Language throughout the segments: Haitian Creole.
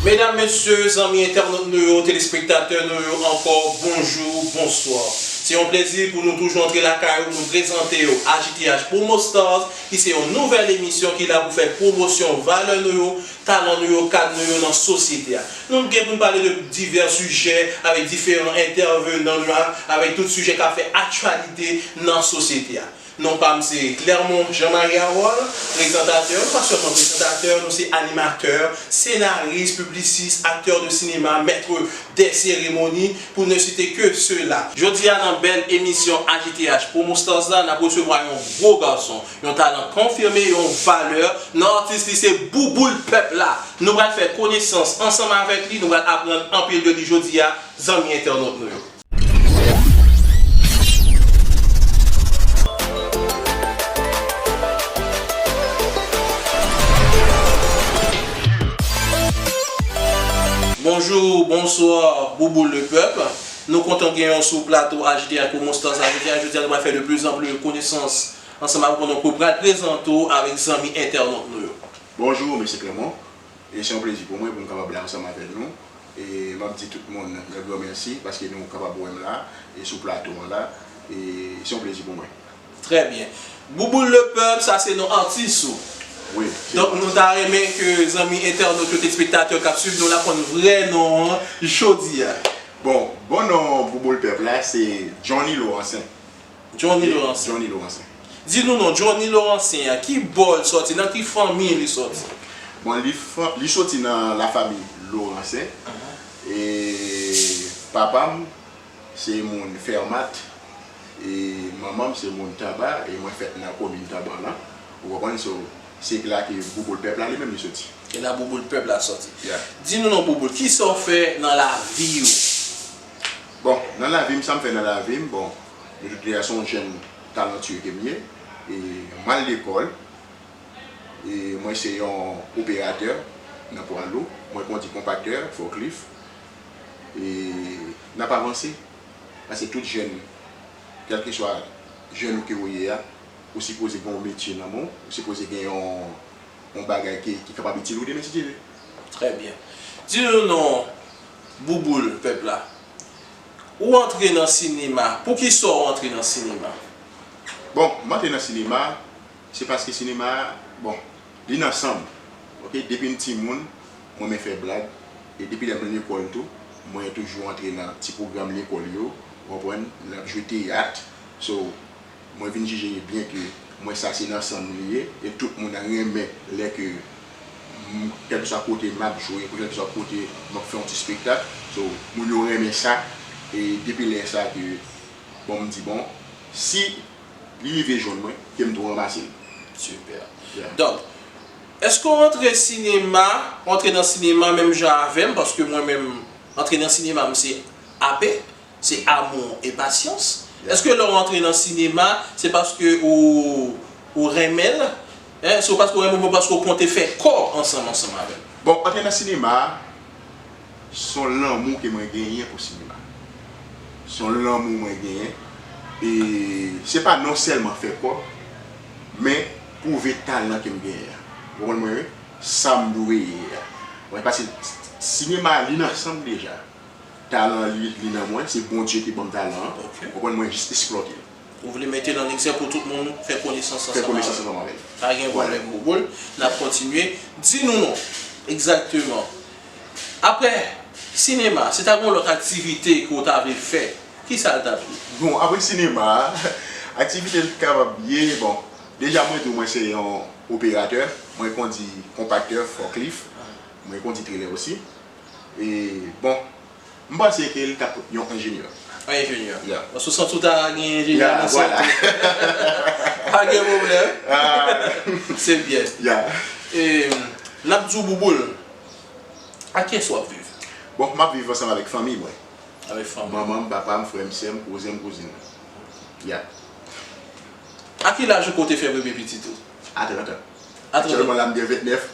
Medam, mesye, zanmi entènot nou yo, telespektatè nou yo ankò, bonjou, bonswa. Se yon plezi pou nou toujou antre lakay ou, nou prezante yo HITH Promo Stars ki se yon nouvèl emisyon ki la pou fè pwomosyon valè nou yo, talan nou yo, kad nou yo nan sosyete a. Nou gen pou nou pale de divè sijè avèk diferan entèvenan nou yo ak avèk tout sijè k ap fè aktyalite nan sosyete a. Non pa m se Clermont Jean Marie Harold, prezantatè, nou pa sèlman prezantatè, nou se animatè, senaris, piblisis, aktè de sinema, mètre dè seremoni, pou ne site ke sela. Jodi a nan bèl emisyon AJTH Promo Stars la, n ap resevwa yon gwo gason, yon talan konfime, yon valè nan atis li se Bouboul pèp la! Nou pral fè konesans ansanm avèk li, nou pral aprann anpil de li jodi a, zanmi entènot nou yo. Bonjour bonsoir bouboule le peuple nou kontan gen yon sou plato HD ak ou Moustaza jodia jodia nou pral fè de plus en plus konesans ansanm avèk ou nou pral prezante ou avèk zanmi entènot nou yo. Bonjour Mesye Clement E se yon plezi pou mwen pou m kapab la ansanm avè nou e m ap di tout moun yon gran mèsi paske nou kapab wè m la e sou plato an la e se yon plezi pou mwen. Trè byen. Bouboul le pèp, sa se non atis ou. Wi, se non Donk nou atis ta mwen. renmen ke zanmi entènot yo, telespektatè k ap suiv nou la konn vrè non an jodi a. Bon, bon non Bouboul pèp la se Johnny Laurencin. Johnny Laurencien. Di nou non Johnny Laurencien an, ki bò l sòti, nan ki fanmi li sòti? Bon li soti nan la fami Laurencien e papa m se moun Fermat e manman m se moun Taba e mwen fèt nan komin Taba lan ou konprann so se la ke Bouboul pèp la li menm li soti. E la Bouboul pèp la sòti. Di nou non Bouboul, kisa w fè nan lavi w? Bon, nan lavi m, sa m fè nan lavi m, bon, de tout lè a se yon jèn talantuye ke m ye, e m al lekòl, e mwen se yon operatè nan pwa lou, mwen kondi konpaktè, fòklif, e n ap avanse, pase tout jèn, kèlkeswa jèn ou ke ou ye a, ou sipoze gen yon metye nan men w, ou sipoze gen yon. yon bagay ke ki kapab itil ou demen si Dye ve. Trè byen. Di nou non bouboul pèp la. Ou antre nan sinema, pou ki sa ou antre nan sinema? Bon, m antre nan sinema, se paske sinema, bon, li nan san m. Ok, depi m ti moun, m renmen fè blag, e depi lè m lekòl tou, mwen toujou antre nan ti pwogram lekòl yo, ou konprann, n ap jwe teyat, so. Mwen vin jije li byen ke mwen sa se nan sanm li ye e tout moun renmen lè ke m kèlkeswa kote map jwe pou kèlkeswa kote map fè yon ti spektak so moun yo renmen sa e depi lè sa ke bon m di bon si li rive jwenn mwen ke m tou ranmase l. Super. Donk Eske w antre sinema, w antre nan sinema menm jan avèm paske mwen menm antre nan sinema m se ape. Se amour et patience. Eske lè w antre nan sinema se paske ou ou renmen l? Hein? Se paske ou renmen l oubyen paske ou konte fè kò ansanm ansanm avè l? Bon, antre nan sinema a s on lanmou ke mwen genyen pou sinema. S on lanmou mwen genyen e se pa non sèlman fè kò men pwouve talan ke m genyen an. Ou konprann mwen wi? Sa m dwe ye a. Mwen pase sinema li nan san m deja. Talan li li nan mwen, se Bondye ki banm talan an, ou konprann mwen jis esplòte l. Ou vle mete l an egzè pou tout moun fè konesans ansanm avè l. Pa gen pwoblèm Bouboul, n ap kontinye. Di nou non, egzakteman, aprè sinema, si ta gen yon lòt aktivite ke w ta vle fè, ki sa l t ap ye? Bon, aprè sinema, aktivite l t kapab ye, bon, deja mwen di w mwen se yon operatè, mwen kondi konpaktè, fòklif, mwen kondi trelè osi. E bon. M panse ke li t ap yon enjenyè. Yon enjenyè. Ya. Bon sou sant ou ta gen enjenyè nan sant ou. Ya, vwala. Pa gen pwoblèm. Haa. Se byen. Ya. E n ap di w Bouboul, ak ki yès w ap viv? Bon, m ap viv ansanm avèk fanmi mwen. Avèk fanmi w. Manman m, papa m, frè m, sè m, kouzen m, kouzin m. Ya. A ki laj ou ke w te fè premye pitit ou? A 30 an. A 30 an. Aktyèlman la m gen 29.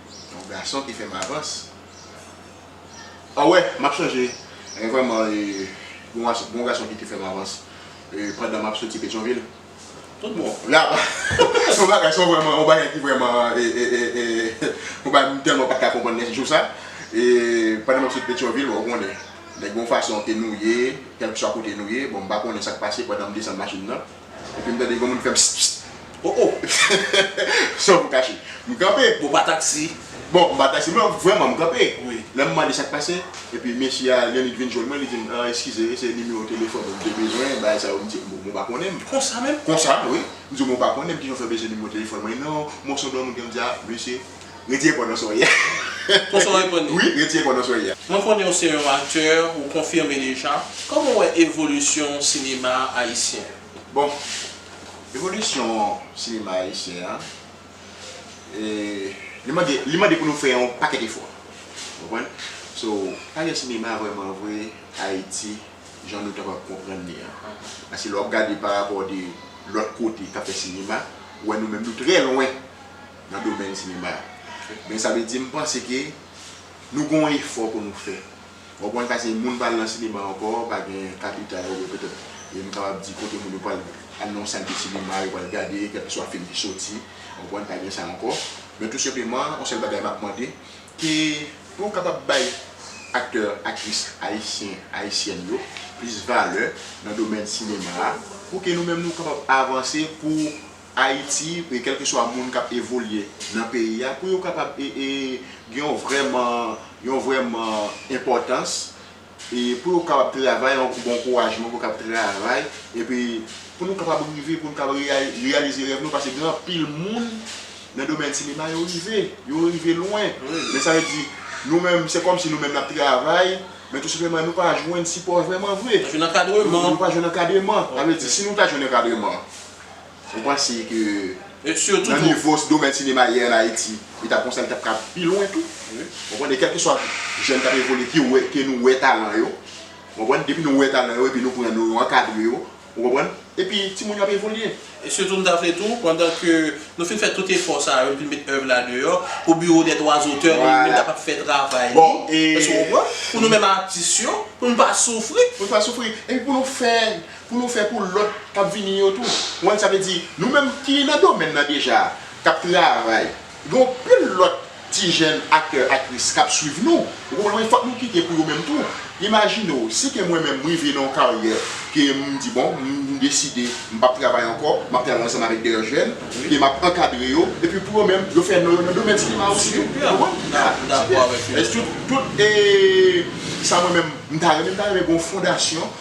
Yon gason ki fèm avans. An wè map sonje gen vreman yon gason ki te fèm avans pandan map soti petyonvil tout bon la apa yon bagay son vreman yon bagay ki vreman yon bagay m telman pat ka konprann nen jou sa pandan map soti petyonvil bon ou konnen nèg gen yon fason ke nou ye kelkeswa kote nou ye bon m pa konnen sak pase pandan m desann machin nan. Epi m tande yon moun fè pss pss oh oh San pou kache m kanpe Bon pa taksi Bon m pa taksi men vrèman m kanpe Lè m mande sa k pase Epi mesye a yon nèg vin jwenn mwen li di m an eskize se nimewo telefòn ou m te bezwen bagay sa yo m di m bon mwen pa konnen m Konsa menm? Konsa wi M di w mwen pa konnen m kijan w fè bezwen nimewo telefòn mwen non Mwen son blan moun ki m di a mesye Retire kò nan sa w ye a. Konsa w reponn li? Wi, retire kò nan sa w ye a. Mwen konnen w se yon aktè, ou konfime deja. Kòman w wè evolisyon sinema ayisyen an? Bon, evolisyon sinema ayisyen an, li mande pou nou fè yon pakèt efò. Ou konprann? So, pa gen sinema vrèman vre Ayiti jan nou ta pral konprann li an. Paske lè w ap gade parapò de lòt kote k ap fè sinema, ou wè nou menm nou trè lwen nan domèn sinema a. Men sa vle di m panse ke nou gen yon efò pou nou fè. Ou konprann sa se moun pa al nan sinema ankò, pa gen kapital oubyen petèt e m kapab di kote moun yo pral al nan yon sal de sinema yo pral gade kèlkeswa fim ki soti, ou konprann, pa gen sa ankò. Men tou senpleman, yon sèl bagay m ap mande, ke pou yo kapab bay aktè, aktris ayisyen, ayisyèn yo plis valè nan domèn sinema a pou ke nou menm nou kapab avanse pou Ayiti e kèlkeswa moun k ap evolye nan peyi a pou yo kapab gen yon vrèman yon vrèman enpòtans e pou yo kapab travay yon bon kourajman pou yo kapab travay epi pou nou kapab rive pou nou kapab reyalize rèv nou paske gen anpil moun nan domèn sinema yo rive yo rive lwen men sa vle di nou menm se kòmsi nou menm n ap travay men tou senpleman nou pa jwenn sipò vrèman vre nou pa jwenn ankadreman sa vle di si nou ta jwenn ankadreman Ou panse ke nan nivo domèn sinema ye an Ayiti, li ta konsa li tap ka pi lwen tou. Ou konprann e kèlkeswa jèn kap evolye ki wè ke nou wè talan yo. Ou konprann depi nou wè talan yo epi nou pran yo nou ankadre yo. Ou konprann epi timoun yo ap evolye. E sitou m ta vle tou pandan ke nou fin fè tout efò sa yo nou fin met èv la deyò pou biwo dè dwa zotè nou menm kapab fè travay li. Èske ou konprann? Pou nou menm atis yo pou nou pa soufri. Pou nou pa soufri epi pou nou fè. Pou nou fè pou lòt k ap vini yo tou. Konprann sa vle di? Nou menm ki nan domèn nan deja a, k ap travay, gen yon pil lòt ti jèn aktè, aktris k ap suiv nou. Ou konprann mwen? Fòk nou kite pou yo menm tou. Imajine w, si ke mwen menm m rive nan yon karyè ke m di bon, m deside m p ap travay ankò, m ap travay ansanm avèk dèyè jèn, ke m ap ankadre yo, epi pou yo menm, yo fè non yo nan domèn sinema a osi tou. Ou konprann? M dakò avèk ou. Tout sa mwen menm m ta renmen, m ta renmen gen yon fondasyon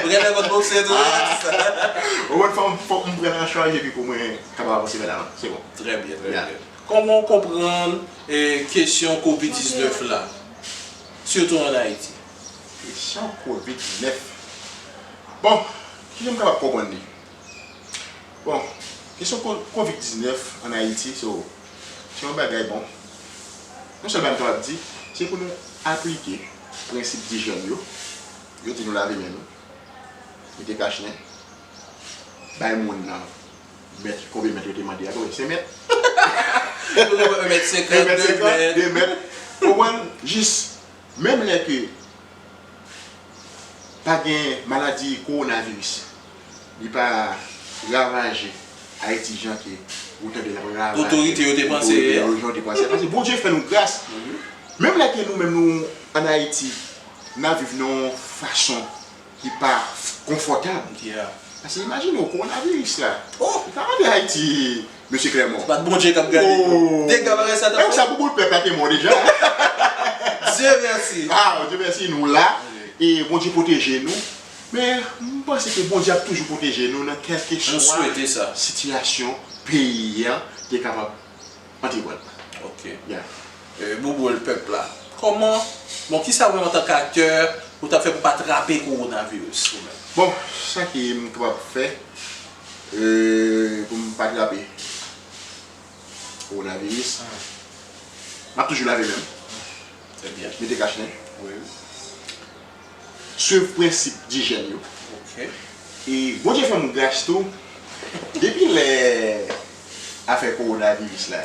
Ou genlè konn bokse tou wi. Ou wè fanm fòk m prann an chaj epi pou mwen kapab avanse vè lavan. Se bon. Trè byen, trè byen. Kòman w konprann kesyon kovid 19 la? Sitou an Ayiti. Kesyon kovid 19. Bon, ki jan m kapab konprann li? Bon, kesyon kovid 19 an Ayiti so. Se yon bagay bon. Yon sèl bagay m kapab di, se pou nou aplike prensip dijyèn yo. Yo di nou lave men nou, mete kachnen, bay moun nan mèt, konbyen mèt yo te mande a, konbyen? 5 mèt? 1 mèt 50, 2 mèt. Ou konprann? Jis menm lè ke pa gen maladi kowonaviris li pa ravaje ayiti jan ke ou tande lap ravaje otorite yo te panse paske bondye fè nou gras menm lè ke nou menm nou an ayiti nap viv nan yon fason ki pa konfòtab paske imajine w kowonaviris la ou pa mande ayiti Mesye Clermont. Bat Bondye kap gade yo. Dega bagay sa tap fè. Menm sa pou boul pèp la te bon deja. Dieu merci. Waw Dieu merci nou la. E Bondye pwoteje nou. Men m panse ke Bondye ap toujou pwoteje nou nan kelke swa sitiyasyon peyi an te kapab antre pran. Ok. Yeah. Bouboul pèp la. Koman Bon kisa ou menm antan k aktè ou tap fè pou pa trape kowonaviris ou menm? Bon sa ke m kapab fè Pou m pa trape kowonaviris, m ap toujou lave men m. Mete kach nen. Swiv prensip dijèn yo. E Bondye fè m gras tou, depi lè afè kowonaviris la.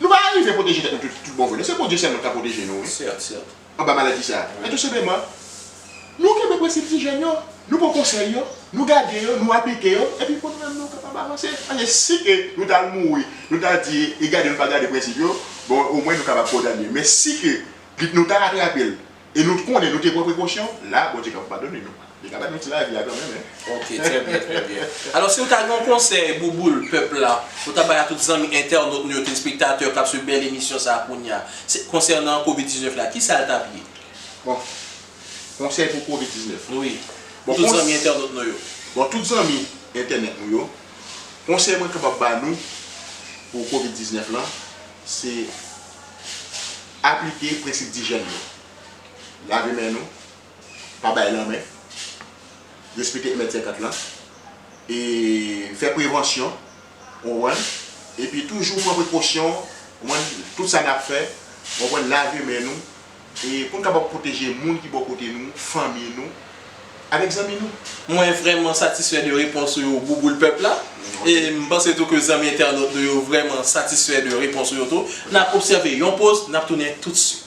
Nou pa arive pwoteje tèt nou tout bon vre non, se Bondye sèlman ki ka pwoteje nou wi anba maladi sa. Men tou senpleman, nou kenbe prensip ti jèn yo, nou pran konsèy yo, nou gade yo, nou aplike yo, epi pou nou menm nou kapab avanse. Paske si ke nou ta al mouri, nou ta di e gade nou pa gade prensip yo, bon omwen nou kapab kondane. Men si ke nou ta atrape l, E nou t konnen nou te pran prekosyon, la Bondye kap padone nou. Li ka ba nou ti lavi a kanmenm hein. Ok trè byen trè byen. Alò si ou ta gen yon konsèy bouboul pèp la ou ta bay a tout zanmi entènot nou yo telespektatè kap swiv bèl emisyon sa kounya se konsènan covid 19 la kisa l tap ye? Bon konsèy pou covid 19. Wi pou tout zanmi entènot nou yo. Bon tout zanmi entènèt nou yo konsèy mwen kapab ba nou pou covid 19 lan se Aplike prensip dijyèn yo, lave men nou, pa bay lanmen, respekte 1 mèt 50 lan, e fè prevansyon ou konprann, epi toujou pran prekosyon ou konprann, tout sa nap fè ou konprann lave men nou e poun kapab pwoteje moun ki bò kote nou, fanmi nou, avèk zanmi nou. Mwen vrèman satisfè de repons ou yo Bouboul pèp la. E m panse tou ke zanmi entènot nou yo vrèman satisfè de repons ou yo tou. N ap obsève yon poz, n ap tounen toutswit.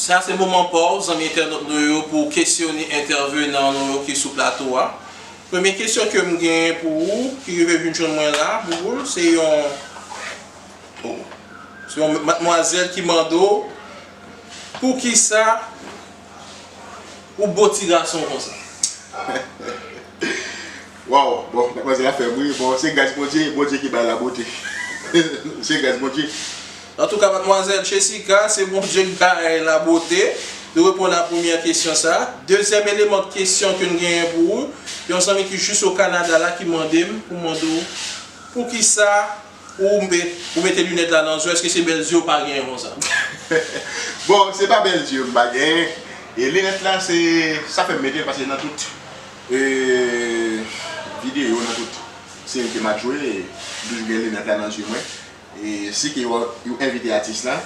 Sa se moman pa w zanmi entènot nou yo pou w kesyone entèvenan nou yo ki sou plato a. Premye kesyon ke m genyen pou ou ki rive vin jwenn mwen la Bouboul se yon Oh se yon matmwazèl ki mande w poukisa ou beau ti gason konsa. Waw bon matmwazèl la fèm ri bon se gras Bondye Bondye ki bay la bote se gras Bondye. Antouka matmwazèl Chesica se Bondye ki bay la bote nou reponn a premyè kesyon sa dezyèm eleman kesyon ke nou genyen pou ou yon zanmi ki jis o Canada la ki mande m pou mande w poukisa Ou mete lunèt la nan zo eske se bèl zye ou pa genyen konsa. Bon se pa bèl zye m pa genyen e linèt la se sa fèm metel paske nan tout video nan tout seri ke map jwe m toujou gen linèt la nan zye mwen e si ke yo envite atis la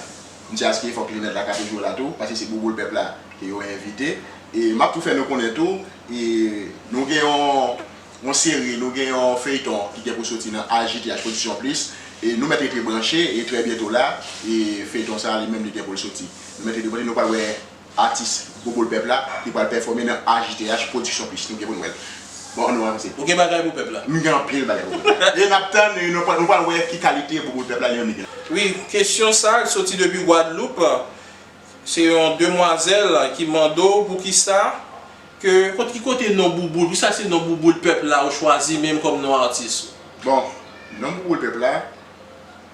m se aske fòk linèt la ka toujou la tou paske se bouboul pèp la ke yo envite e map tou fè nou konnen tou nou gen yon yon seri, nou gen yon feyton ki gen pou soti nan HJTH Production Plus e nou mèt rete branche e trè byento la e feyton sa li menm li gen pou l soti. Nou mèt rete branche nou pral wè atis Bouboul Pèp la ki pral pèfòme nan HJTH Production Plus nou gen pou n wè l. Bon an nou avanse. Ou gen bagay pou pèp la? M gen anpil bagay pou pèp la. E n ap tann e nou pral wè ki kalite Bouboul Pèp la yon nèg. Wi, kesyon sa l soti depi Gwadloup, se yon demwazèl ki mande w poukisa. Ke kot ki kote non bouboul. Pou sa se non bouboul pèp la ou chwazi menm kòm non atis ou. Bon non bouboul pèp la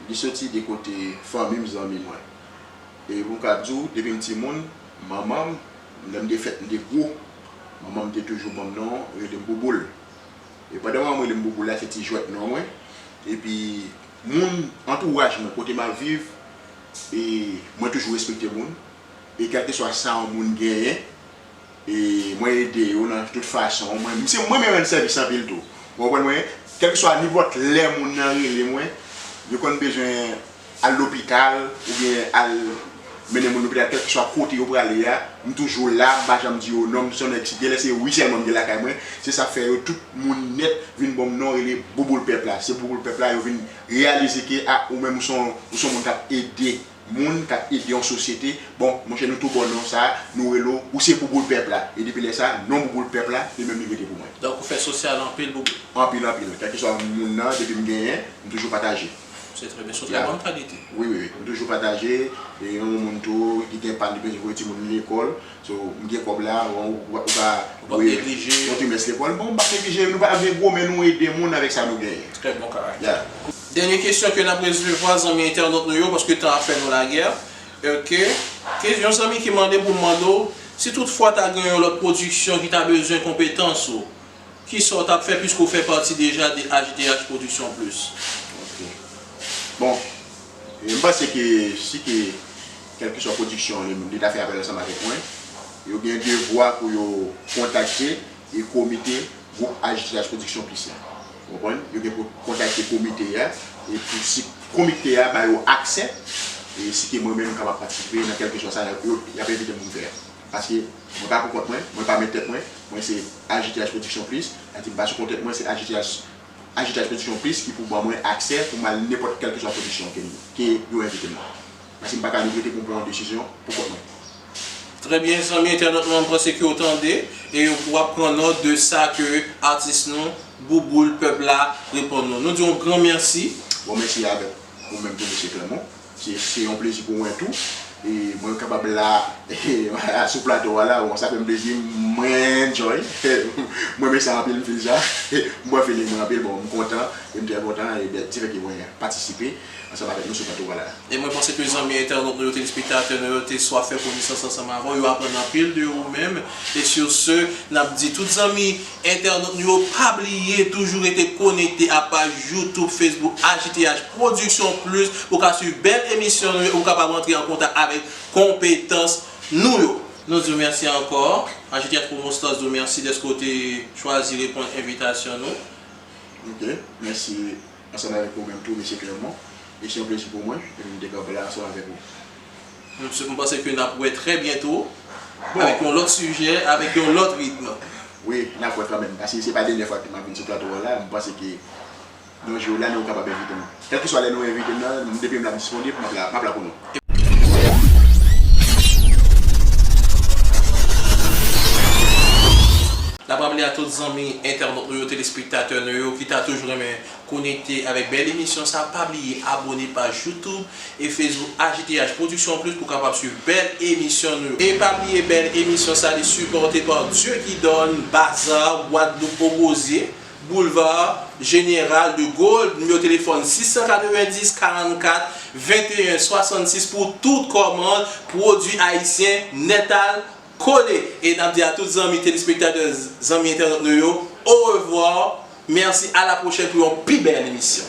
li soti de kote fanmi m zanmi mwen. E pou m ka di w depi m ti moun manman m lè m te fèt m te gwo manman m te toujou ban m non rele m bouboul. E pandan manman m rele m bouboul la se ti jwèt non mwen. E pi moun antouraj mwen kote m ap viv e mwen toujou respekte moun e kèlkeswa sa yon moun genyen. e mwen ede yo nan tout fason mwen m se mwen menm rann sèvis anpil tou ou konprann mwen kèlkeswa nenpòt lè moun nan rele mwen yo konn bezwen al lopital oubyen al mennen moun lopital kèlkeswa kote yo prale a m toujou la m pa janm di yo non m son nèg si genlè se wi sèlman m gen lakay mwen se sa fè yo tout moun nèt vin bon m non rele bouboul pèp la se bouboul pèp la yo vin reyalize ke a ou menm ou son ou son moun k ap ede. moun kap ede yon sosyete bon monchè nou tou bon non sa nou rele w ou se bouboul pèp la e depi lè sa non bouboul pèp la li menm li rete pou mwen. Donk ou fè sosyal anpil boubou. Anpil anpil kèlkeswa moun nan depi m genyen m toujou pataje. Se trè byen son trè bon kalite. Wi wi m toujou pataje e yon moun tou ki gen pa l li bezwen voye timoun li lekòl so m gen kòb la bon ou pa voye yon trimès lekòl bon m pap neglije nou pa vle gwo men nou ede moun avèk sa nou genyen. Trè bon karakte. Dènye kesyon ke nap resevwa zanmi entènot nou yo paske tan ap fè nou lagè ok ke yon zanmi ki mande poum mande w si tout fwa ta gen yon lòt pwodiksyon ki ta bezwen konpetans ou kisa w tap fè piske w fè pati deja de HDH production plus. Ok bon e m panse ke si ke kèlkeswa pwodiksyon li ta fè apèl ansanm avèk mwen yo gen devwa pou yo kontakte e komite gwoup HDH production plus la. Ou konprann? Yo gen pou kontakte komite a e pou si komite a ba yo aksè e si ke mwen menm m kapab patisipe nan kèlkeswa sa y ap y ap envite m pou m fè a. Paske mwen pa pou kont mwen, mwen pa mèt tèt mwen, mwen se AJTH Production Plus, sa vle di m pa sou kont tèt mwen, se AJTH AJTH Production Plus ki pou ban mwen aksè pou m al nenpòt kèlkeswa pwodiksyon ke yo envite m nan. Paske m pa ka regrete pou m pran yon desizyon pou kont mwen. Trè byen zanmi entènot mwen m panse ke w tande e w ap pran nòt de sa ke atis nou Bouboul pèp la reponn nou. Nou di w yon gran mèsi. Bon mèsi a avèk ou menm tou mesye Clermont. Se yon plezi pou mwen tou e mwen kapab la a sou plato a la bon sa fè m plezi mwen enjoy m renmen sa anpil m feel sa m bwè feeling mwen anpil bon m kontan e m trè kontan e dèt di fè ke mwen patisipe. ansanm avèk nou sou plato Wala a. E mwen panse ke zanmi entènot nou yo, telespektatè nou yo te swaf fè konesans ansanm avè w, yo aprann anpil de ou menm. E sur ce, n ap di tout zanmi entènot nou yo pa bliye toujou rete konekte a paj YouTube, Facebook HJTH Production Plus pou w ka swiv bèl emisyon nou yo e pou w kapab antre an kontak avèk konpetans nou yo. Nou di w mèsi ankò. HJTH Promostars di w mèsi dèske w te chwazi reponn envitasyon nou. Ok, mèsi. Ansanm avèk ou menm tou Mesye Clermont, e se yon plezi pou mwen epi m te kanpe la ansanm avèk ou. M panse ke n ap wè trè byento avèk yon lòt sijè, avèk yon lòt ritm. Wi, n ap wè kanmenm, paske se pa dènyè fwa ke m ap vin sou plato w la, m panse ke yon jou w la men ou kapab envite m. Kèlkeswa lè nou envite m nan, depi m la m disponib, m ap la pou nou. N ap raple a tout zanmi entènot nou yo, telespektatè nou yo ki ta toujou renmen konekte avèk bèl emisyon sa, pa bliye abone paj YouTube e Facebook AJTH Production Plus pou w kapab swiv bèl emisyon nou yo. E pa bliye bèl emisyon sa li sipòte pa Dieu qui donne, Bazar, Guadeloupe, Ogozye. Boulevard General de Gaulle, nimewo telefòn 690 44 21 66 pou tout kòmand pwodwi ayisyen nètal kole e nap di a tout zanmi telespektatè zanmi entènot nou yo orevwa mèsi a la pwochèn pou yon pi bèl emisyon.